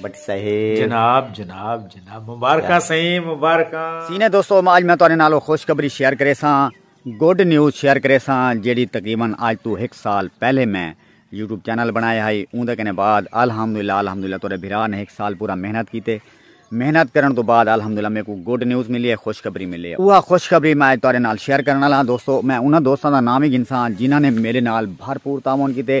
بٹ صاحب جناب جناب جناب مبارکاں سائیں مبارکاں سینے دوستو اج میں تہاڈے نال خوشخبری شیئر کریساں گڈ نیوز شیئر کریساں جیڑی تقریبا اج تو ہک سال پہلے میں یوٹیوب چینل بنایا ہائی اون دے کنے بعد الحمدللہ الحمدللہ تہاڈے بھرا نے ہک سال پورا محنت کیتے محنت کرن تو بعد الحمدللہ میکو گڈ نیوز ملی ہے خوشخبری ملی ہے اوہ خوشخبری میں اج تہاڈے نال شیئر کرن والا ہاں دوستو میں انہاں دوستاں دا نام ہی گھنساں جنہاں نے میرے نال بھرپور تعاون کیتے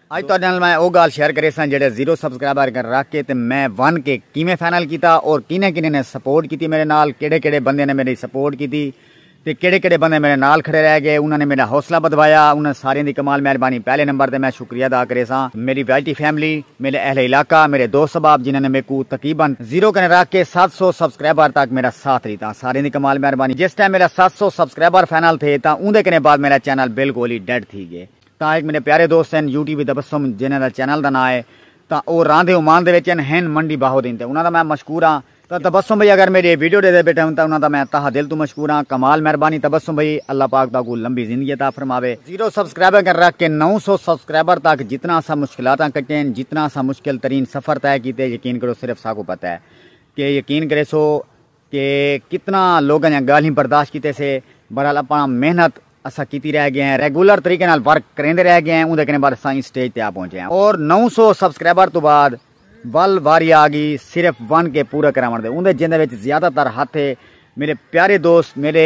اج تہاڈے نال میں او گالھ شیئر کریساں جیہڑے زیرو سبسکرائبر کن رکھ کے تے میں ون کے کیویں فائنل کیتا اور کنیں کنیں نے سپورٹ کیتی میڈے نال کیہڑے کیہڑے بندیاں نے میڈی سپورٹ کیتی تے کیہڑے کیہڑے بندے میڈے نال کھڑے رہ گئے انہاں نے میڈا حوصلہ بدھوایا انہاں ساریاں دی کمال مہربانی پہلے نمبر تے میں شکریہ ادا کریساں میڈی وی ٹی فیملی میڈے اہل علاقہ میڈے دوست احباب جنہاں نے میکوں تقریبا زیرو کن رکھ کے ست سو سبسکرائبر تک میڈا ساتھ ڈیتا ساریاں دی کمال مہربانی جس ٹائم میڈا ست سو سبسکرائبر فائنل تھے تاں اوندے کنیں بعد میڈا چینل بالکل ہی ڈیڈ تھی گئے تاں ہک میݙے پیارے دوست ہن یو ٹی وی تبسم جنہاں دا چینل دا ناں ہے تاں او راہندے عمان دے وچ ہن ہن منڈی باہو دین تے انہاں دا میں مشکور ہاں تاں تبسم بھئی اگر میݙی ویڈیو ݙیندے بیٹھے ہن تاں انہاں دا میں تہہ دل توں مشکور ہاں کمال مہربانی تبسم بھئی اللہ پاک تہاکوں لمبی زندگی عطا فرماوے۔ زیرو سبسکرائبر کن رکھ کے نو سو سبسکرائبر تک جتنا اساں مشکلاتاں کٹے ہن جتنا اساں مشکل ترین سفر طے کیتے یقین کرو صرف ساکوں پتہ ہے کہ یقین کریسو کہ کتنا لوگاں دیاں گالھیں برداشت کیتے سے بہرحال اپاں محنت اساں کیتی رہ گئے ہیں ریگولر طریقے نال ورک کریندے رہ گئے ہیں اوندے کنے بعد اساں ایں سٹیج تے آ پہنچے ہیں اور نو سو سبسکرائبر توں بعد ول واری آ گئی صرف ون کے پورا کراون دے اوندے جیندے وچ زیادہ تر ہتھ ہے میرے پیارے دوست میرے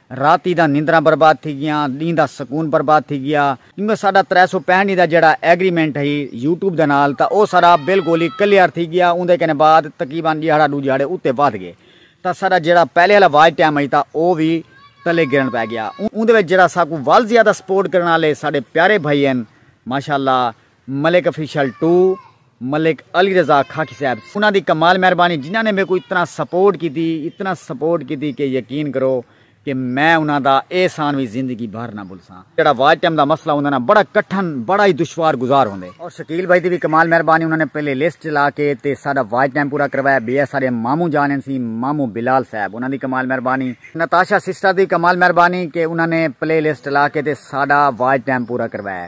راتی دا نندراں برباد تھی گیاں، ڈینہہ دا سکون برباد تھی گیا کیونکہ ساڈا ترے سو پینہٹ ڈینہہ دا جیڑھا ایگریمنٹ ہئی یوٹیوب دے نال تاں او ساڈا بالکل ہی کلیئر تھی گیا اوندے کنے بعد تقریبا ڈیہاڑا ڈو ڈیہاڑے اتے ودھ گئے تاں ساڈا جیڑھا پہلے آلا واچ ٹائم ہئی تاں او وی تلے گرن پے گیا اوندے وچ جیڑھا ساکوں ول زیادہ سپورٹ کرن آلے ساڈے پیارے بھائی ہن ماشاءاللہ ملک افیشل ٹو۔ ملک علی رضا خاکی صاحب انہاں دی کمال مہربانی جنہاں نے میکوں اتنا سپورٹ کیتی اتنا سپورٹ کیتی کہ یقین کرو کہ میں انہاں دا اے احسان وی زندگی بھر نہ بھلساں جیڑھا واج ٹائم دا مسئلہ ہوندے نا بڑا کٹھن بڑا ہی دشوار گزار ہوندے۔ اور شکیل بھائی دی وی کمال مہربانی انہاں نے پہلے لسٹ چلا کے تے ساڈا واج ٹائم پورا کروایا بیا ساڈے ماموں جان ہن سی ماموں بلال صاحب انہاں دی کمال مہربانی نتاشا سسٹر دی کمال مہربانی کہ انہاں نے پلے لسٹ چلا کے تے ساڈا واج ٹائم پورا کروایا۔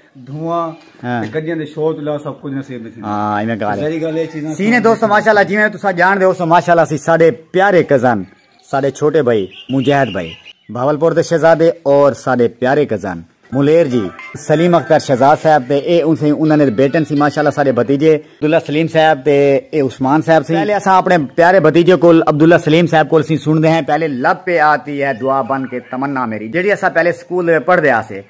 دھواں تے گڈیاں دے شور تو علاوہ سب کچھ نصیب نہیں تھیندا ہاں ایویں گال ہے گل اے چیزاں سینے دوستو ماشاءاللہ جویں تساں جان دے ہو ماشاءاللہ سی ساڈے پیارے کزن ساڈے چھوٹے بھائی مجاہد بھائی بھاول پور دے شہزادے اور ساڈے پیارے کزن ملیر جی سلیم اختر شہزاد صاحب تے اے ان سے انہاں نے بیٹن سی ماشاءاللہ ساڈے بھتیجے عبداللہ سلیم صاحب تے اے عثمان صاحب سی پہلے اساں اپنے پیارے بھتیجے کول عبداللہ سلیم صاحب کول سی سن دے ہیں پہلے لب پہ آتی ہے دعا بن کے تمنا میری جیڑی اساں پہلے سکول دے پڑھ دے آسے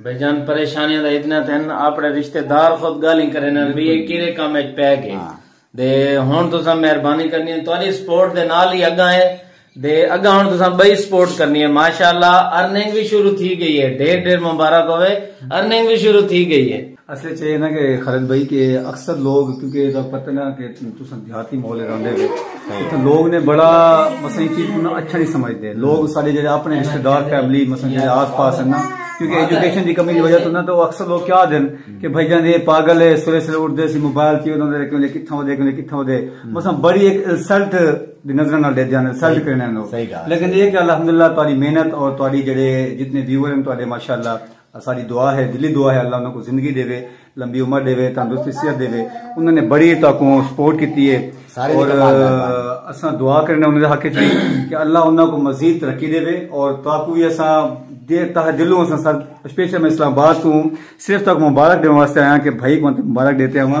بھئی جان پریشانیاں دا اتنا تھے ہن اپنے رشتہ دار خود گالیں کرے نہ بھئی یہ کیرے کام اچ پے گئے ہاں۔ دے ہن تساں مہربانی کرنی ہے تہاڈی سپورٹ دے نال ہی اگاں ہے دے اگاں ہن تساں بئی سپورٹ کرنی ہے ماشاءاللہ ارننگ وی شروع تھی گئی ہے ڈھیر ڈھیر مبارک ہوے ارننگ وی شروع تھی گئی ہے اصل اچ اے نا کہ خالد بھائی کہ اکثر لوگ کیونکہ اے دا پتہ نا کہ تساں دیہاتی ماحول رہندے ہو اتھاں لوگ نے بڑا مثلا اے چیز کوں اچھا نہیں سمجھدے لوگ ساڈے جڑے اپنے رشتہ دار فیملی مثلا جڑے آس پاس ہیں نا کیونکہ ایجوکیشن دی کمی دی وجہ تو نا تو اکثر لوگ کیا دین کہ بھائی جان اے پاگل ہے سویرے سویرے اٹھ دے سی موبائل تھی انہاں دے کیوں لے کتھاں ودے کیوں لے کتھاں ودے مثلا بڑی ایک انسلٹ دی نظر نال دے دیاں انسلٹ کرنے نو لیکن اے کہ الحمدللہ تہاڈی محنت اور تہاڈی جڑے جتنے ویور ہیں تہاڈے ماشاءاللہ اساڈی دعا ہے دلی دعا ہے اللہ انہاں کو زندگی ڈیوے لمبی عمر ڈیوے تندرستی صحت ڈیوے انہاں نے بڑی تاکوں سپورٹ کیتی ہے اور اساں دعا کرنے انہاں دے حق چ کہ اللہ انہاں کو مزید ترقی ڈیوے اور تاکوں یہ اساں دے تہ دلوں اساں سر اسپیشل میں اسلام آباد تو صرف تک مبارک دیوان واسطے آیا کہ بھائی کو مبارک دیتے ہیں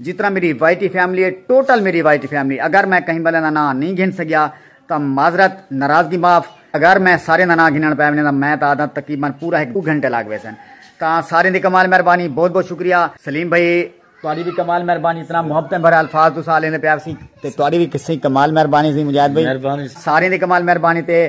جتنا میری وائٹی فیملی ہے ٹوٹل میری وائٹی فیملی اگر میں کہیں بندے دا ناں نہیں گھن سکیا تاں معذرت ناراضگی معاف اگر میں سارے دا ناں گھنن پے ونجاں تاں میں تاں آدھاں تقریبا پورا ہک ڈو گھنٹے لگ ویسن تاں سارے دی کمال مہربانی بہت بہت شکریہ سلیم بھائی تہاڈی بھی کمال مہربانی اتنا محبتیں بھرے الفاظ تساں لیندے پیا سی تے تہاڈی بھی کسی کمال مہربانی سی مجاہد بھائی سارے دی کمال مہربانی تے